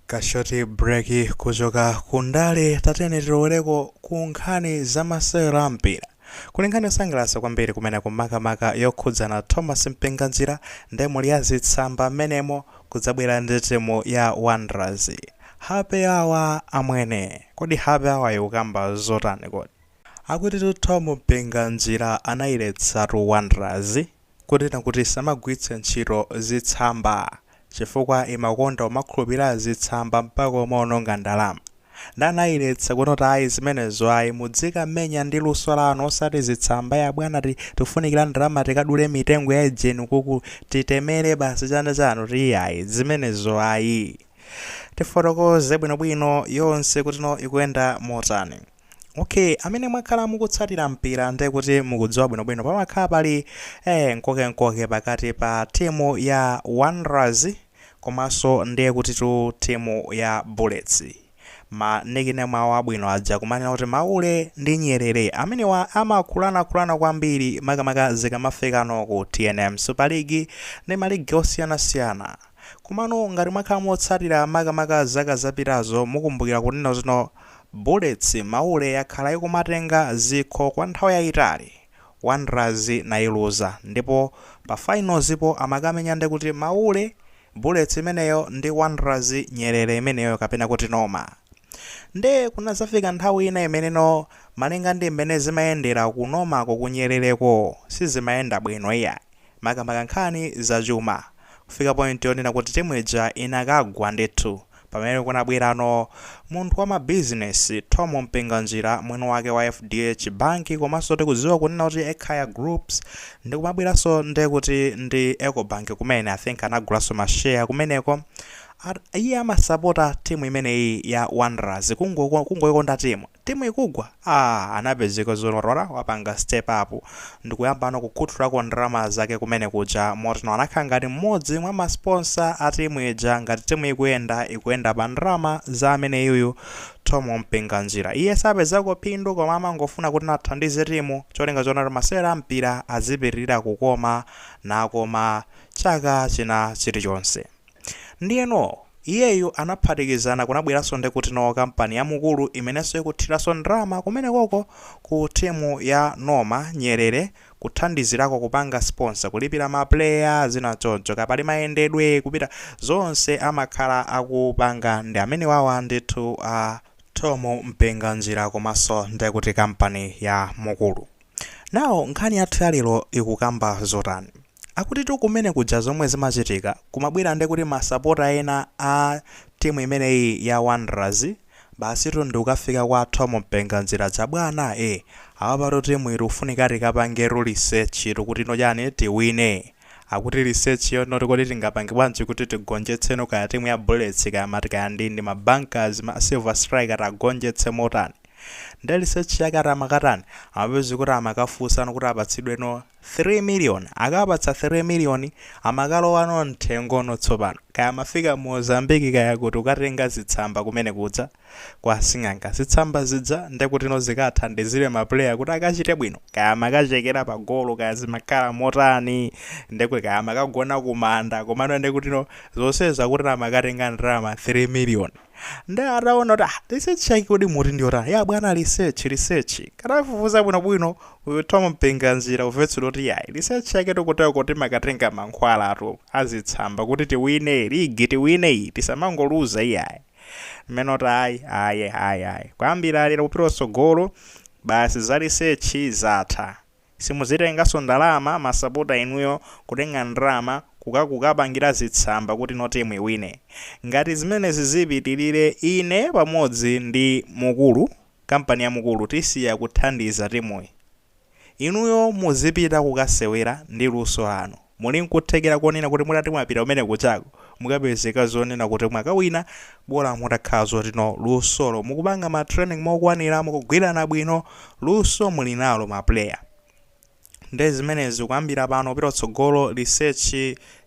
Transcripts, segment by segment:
kashoti break kuchoka ku ndale tatiyeni tilowereko ku nkhani za masewero a mpira kuli nkhani yosangalatsa kwambiri kumene kumakamaka yokhudzana thom mpinganjira ndi nyuzi ya zitsamba amenemo kudzabwera ndi timu ya wanderers happy hour amwene kodi happy hour ikukamba zotani kodi akuti thom mpinganjira anayiletsatu wanderers kunena kuti isamagwiritse ntchito zitsamba chifukwa imakonda kumakhulupilira zitsamba mpaka kumaononga ndalama nde anayiletsa kunena kuti ayi zimenezo ayi mudzikamenya ndi luso lanu osati zitsamba ya bwanatu tikufunikira ndalama tikadule mitengo ya ujeni kuti titemere basi chani chani kuti iyayi zimenezo ayi tifotokoze bwinobwino yonse kuti no ikuyenda motani. Ok amene mwakhala mukutsatira mpira ndiye kuti mukudziwa bwinobwino pamakhala pali eh, nkokenkoke pakati pa timu ya Wanderers komanso ndiye kuti tu timu ya Bullets ma nickname awo abwino aja kumanena kuti maule ndi nyerere amenewa amakhulanakhulana kwambiri makamaka zikamafikano ku tnm super league ndi maligi osiyanasiyana komano ngati mwakhala motsatira makamaka zaka zapitazo mukumbukira kunena kuti Bullets maule yakhala ikumatenga zikho kwa nthawi yayitali, Wanderers imaluza ndipo pa finals po amakamenya ndekuti maule, Bullets imeneyo ndi Wanderers nyerere imeneyo kapena kuti Noma. Nde kunazafika nthawi ina imene no malinga ndi m'mene zimayendera ku Noma ko ku nyerere ko sizimayenda bwino iyayi makamaka nkhani za chuma kufika point yonena kuti timu ija inakagwa ndithu Pamene kunabwerano munthu wa ma business Thom Mpinganjira mwini wake wa FDH Bank komaso tikudziwa kunena kuti Ekhaya Groups ndikumabweraso nde kuti ndi Ecobank kumene I think anagulaso ma share kumeneko iye amasapota timu imeneyi ya Wanderers kungo kungoikonda timu Timu ikugwa aah anapezeka zolorora wapanga step up ndikuyambano kukhuthulako ndalama zake kumene kuja motino anakhala ngati mmodzi mwa ma sponsor a timu ija ngati timu ikuyenda ikuyenda pa ndalama za ameneyuyu Thom Mpinganjira iye sapezako phindu koma amangofuna kuti athandize timu cholinga choona kuti masewero a mpira azipitilira kukoma nakoma chaka china chilichonse. Ndiyeno, iyeyu anaphatikizana kunabweranso ndi kuti no kampani ya Mukuru imenenso ikuthiranso ndalama kumenekoko ku timu ya Noma, nyerere, kuthandizirako kupanga sponsor, kulipira ma player, zina choncho, kaya pali mayendedwe, kupita, zonse amakhala akupanga ndi amenewawa ndithu a Thom Mpinganjira komanso nde kuti kampani ya Mukuru. Now nkhani yathu ya lero ikukamba zotani? Akutitu kumene kuja zomwe zimachitika kumabwera ndekuti masapota ena a timu imeneyi ya Wanderers basitu ndikukafika kwa Thom Mpinganjira aja bwana e apapatu timuyi tikufunika tikapangetu research tu kutino chani tiwine akuti research yo not kodi tingapange bwanji kuti tigonjetseno kaya timu ya Bullets kaya mati kaya ndi ndi ma Bankers ma Silver Striker tiagonjetse motani nde research yake ati amakatani amapezeka kuti amakafunsano kuti apatsidweno 3 million akawapatsa 3 million amakalowa no mthengo no tsopano kaya amafika mozambique kaya kuti kukatenga zitsamba kumene kuja kwa sing'anga zitsamba zija ndekuti no zikathandizile ma player kuti akachite bwino kaya amakachekera pa golo kaya zimakhala motani ndekuti kaya amakagona kumanda komano ndekuti no zonsezi akuti amakatenga ndalama 3 million nde ataona kuti ah, research yake kodi muti ndiyotani ya bwana research research katafufuza bwinobwino uyu Thom Mpinganjira kumvetsedwa kuti yayi research yake tikuti yakuti timakatenga mankhwala atu azitsamba kuti tiwine ligi tiwine iyi tisamangoluza iyayi mmene kuti ayi ayi ayi ayi kuyambira lero kupita kutsogolo basi za research zatha Simuzitengaso ndalama masapota inuyo kutenga ndalama kuka kukapangira zitsamba kutino team iwine. Ngati zimenezi zipitilire ine pamodzi ndi Mukuru kampani ya Mukuru tisiya kuthandiza timuyi. Inuyo muzipita kukasewera ndi luso lanu. Muli nkuthekera konena kuti mutati mwapita kumene kujako mukapezeka zonena kuti mwakawina bola mutakhala zoti no lusolo mukupanga ma training mokwanira mukugwirana bwino luso muli nalo ma player nde zimenezi kuyambira pano kupita kutsogolo research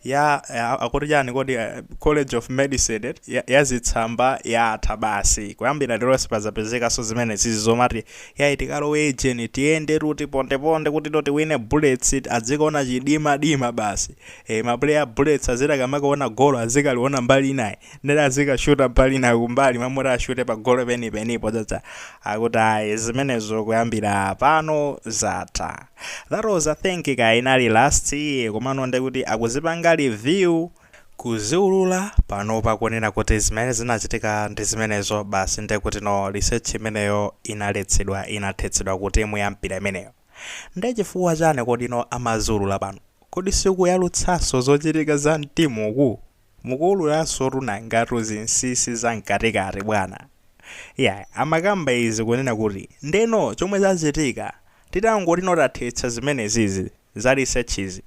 ya a- akuti chani kodi eh, college of medicine eti, ya, ya zitsamba yatha basi kuyambira lero sipazapezekaso zimenezizi zomati Yayi tikalowe ejeni tiyendetu tipondeponde kutito tiwine Bullets adzikaona chidimadima basi. Eh ma player a Bullets aziti akamakaona golo azikaliona mbali inayi. Nde azikashuta mbali inayi kumbali mmalo moti ashute pa golo penipenipo chacha. Akuti ayi zimenezo kuyambira pano zatha. That was I think kaya inali last year komano ndekuti akuzipanga reveal kuziulula panopa kunena kuti zimene zinachitika ndi zimenezo basi ndekuti no research imeneyo inaletsedwa inathetsedwa ku timu ya mpira imeneyo nde chifukwa chani kodi no amaziulula pano kodi sikuyalutsanso zochitika za mtimu uku mukuululansotu nangatu zinsinsi za mkatikati bwana iyayi amakamba izi kunena kuti nde no chomwe chachitika titangoti no tathetsa zimenezizi za research izi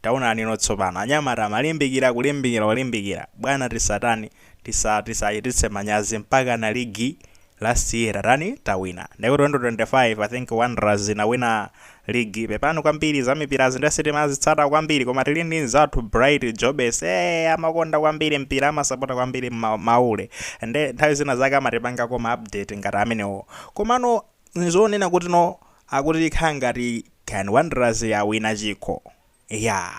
Taonanino tsopano, anyamata amalimbikira, kulimbikira, kulimbikira. Bwana tisatani, tisa, tisachititse manyazi mpakana ligi last year tatani, tawina. Ndekuti 2025 I think Wanderers inawina ligi. Pepani kwambiri za mpirazi nde sitimazitsata kwambiri koma tili ndi mzathu Bright Jobes. Eh, amakonda kwambiri mpira, amasapota kwambiri ma, maule. Nde nthawi zina zake amatipanga koma update ngati amenewo. Komano nzonena kuti no akuti ikhala ngati can wanderers yawina chikho iyaa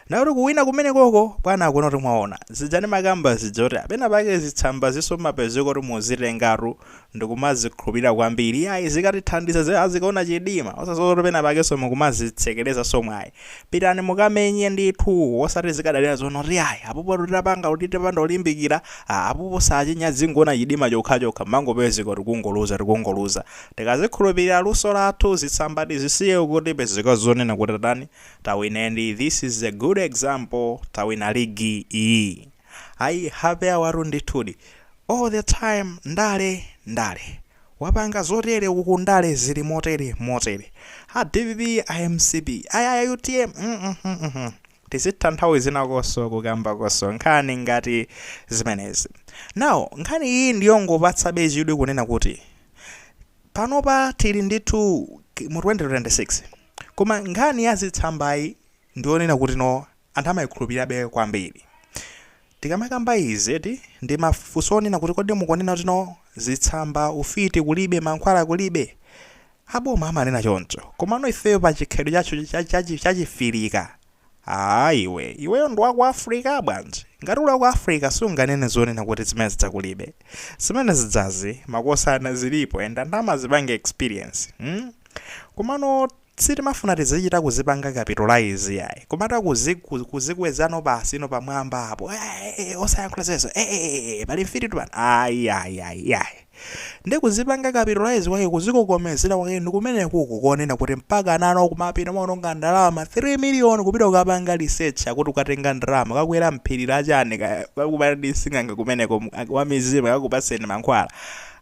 nde kuti kuwina kumenekoko bwana akuona kuti mwaona zija ndimakamba zija zoti penapake zitsambazinso mmapezeka kuti muzitengatu ndikumazikhulupilira kwambiri iyayi zikatithandiza zi- azikaona chidima osazindikira kuti penapakenso mukumazitsekerezanso mwayi pitani mukamenye ndithu osati zikadalira zonena kuti iyayi apopo tutapanga kuti tipanda kulimbikira ah, apopo sachinya azingoona chidima chokhachokha mmangopezeka tikungoluza tikungoluza Tizikhulupilira luso lathu zitsamba tizisiye kuti tipezeka zonena kuti tatani tawina ndi this is a good example tawina league iyi ayi happy awatu ndithudi all the time ndale ndale wapanga zotere uku ndale zili motere motere a dpp a mcp ayi a utm mm, mm, mm, mm. Tizitha nthawi zinakonso kukambakonso nkhani ngati zimenezi. Now, nkhani iyi ndiyongopatsabe chidwi kunena kuti panopa tili ndithu ki- mu 2026 koma nkhani ya zitsambayi ndiyonena kuti no anthu amaikhulupirirabe kwambiri. Tikamakamba izi eti, ndi mafunso onena kuti kodi mukunena kuti no zitsamba, ufiti kulibe, mankhwala kulibe? A boma amanena choncho. Komano ifeyo pa chikhalidwe chathu cha cha cha chi cha chifirika, aah iwe, iweyo ndi wa ku Africa bwanji? Ngati uli wa ku Africa sunganene zonena kuti zimene zija kulibe. Zimene zijazi, makosana zilipo and anthu amazipanga experience. Hmm? Komano. Sitimafuna tizichita kuzipanga capitalize iyayi, kumachita kuzi ku kuzikwezano basi ino pamwamba apo eeh osayankhula zimenezo eeh pali mfiti tu pano ayi ayi ayi iyayi. Nde kuzipanga capitalize kwake kuzikokomezera kwake ndikumenekuku kunena kuti mpaka anthu akumapita kumaononga ndalama 3 million kupita kukapanga research akuti kukatenga ndalama kukakwera phiri la chani kaya kukakumana ndi sing'anga kumeneko mu wamizimu akakupatseni mankhwala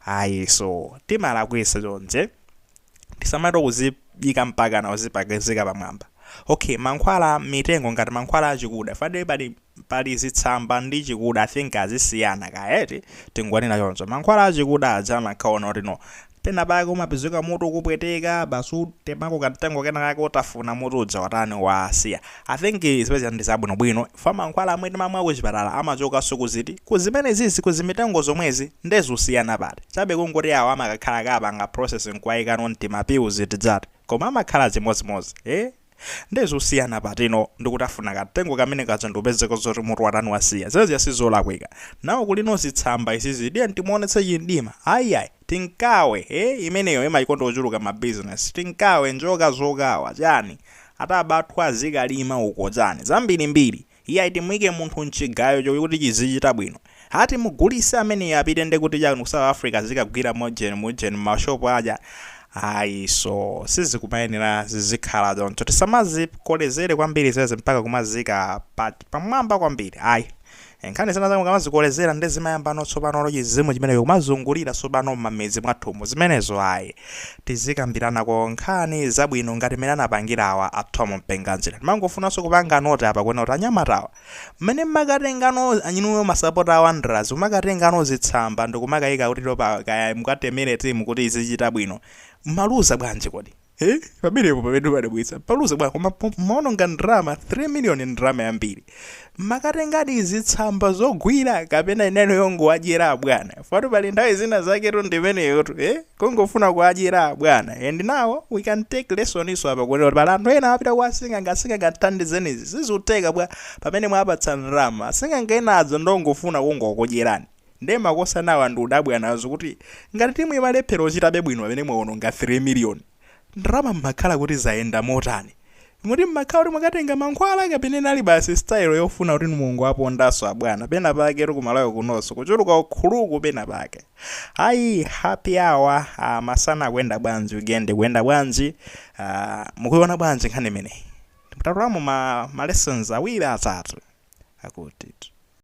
ayinso timalakwisa chonchi. Tisamachite kuziyika mpakana kuzipakizika pamwamba. Ok, mankhwala mitengo ngati mankhwala achikuda. Chifukwa ndiye pali pali zitsamba ndi chikuda, I think azisiyana kaya eti, tingonena choncho. Mankhwala achikuda aja amakhala onena kuti no, penapake umapezeka mutu ukupweteka, basi wathemako kamtengo kenakake utafuna mutu uja watani, wasiya. I think zimene zija ndi zabwino bwino chifukwa mankhwala amwe timamwa kuchipatala amachokanso ku ziti? Ku zimenezizi ku zimitengo zomwezi nde zusiyana pati? Chabe kungoti awa amakakhala kapanga process nkuwayikano m'tima pills tijati koma amakhala zimodzimodzi ee nde zusiyana patino ndikutafuna kamtengo kamene kaja ndikupezeka zoti mutu watani wasiya zimene zija sizolakwika. Nawo kulino zitsamba izizi tiyeni timuwonetse chimdima ayi ayi. Tinkawe, ee imeneyo amayikonda ochuluka ma business, Tinkawe, Njoka zokawa, chani? Atabathwa azikalima uko chani? Zambirimbiri. Iyayi timuike munthu mchigayo chokuti chizichita bwino. Ha timugulise ameneyo apite ndekuti chani ku South Africa azikagwira mojeni mujeni muma shop aja? Ayi so sizikumayenera zizikhala choncho. Tisamazikolezere kwambiri zeze mpaka kumaziika pa pamwamba kwambiri ayi. Eh, nkhani zina zake mukamazikolezera nde zimayambano tsopanolo chizimu chimenecho kumazungulira tsopano m'mamidzi mwathumu zimenezo ayi tizikambiranako nkhani zabwino ngati mmene anapangira awa a Thom Mpinganjira ndimangofunanso kupanga note apa kuona kuti anyamatawa mmene mmakatengano ainuyo masapota a Wanderers kumakatengano zitsamba ndikumakayika kuti topa kaya mukatemere timu kuti izichita bwino mmaluza bwanji kodi Eh, pamenepo pamene padabwitsa paluza bwa koma po- mwaononga ndrama 3 million ndrama yambiri mmakatengadi zitsamba zogwira kapena inali yongowadyera abwana fatu pali nthawi zina zaketu ndimeneyotu eh? kungofuna kuwadyera abwana and now we can take lessonso apa kuti pali anthu ena apita kwa asing'anga asing'anga athandizenizi sizikutheka bwa pamene mwapatsa ndrama asing'anga enazo ndongofuna kungokudyerani Nde ma makhosanawa ndikudabwa nazo kuti ngati timu imalephela kuchitabe bwino pamene mwaononga 3 million ndalama mmakhala kuti zayenda motani? Moti mmakhala kuti mwakatenga mankhwala kapena inali basi style yofuna kuti mungowapondaso abwana pena paketu ku Malawi kunoso kuchuluka ukuluku pena pake ayi happy hour aah masana ikuyenda bwanji weekend ikuyenda bwanji aah mukuiona bwanji nkhani imeneyi? Tatolamo ma ma lessons awiri atatu akutitu.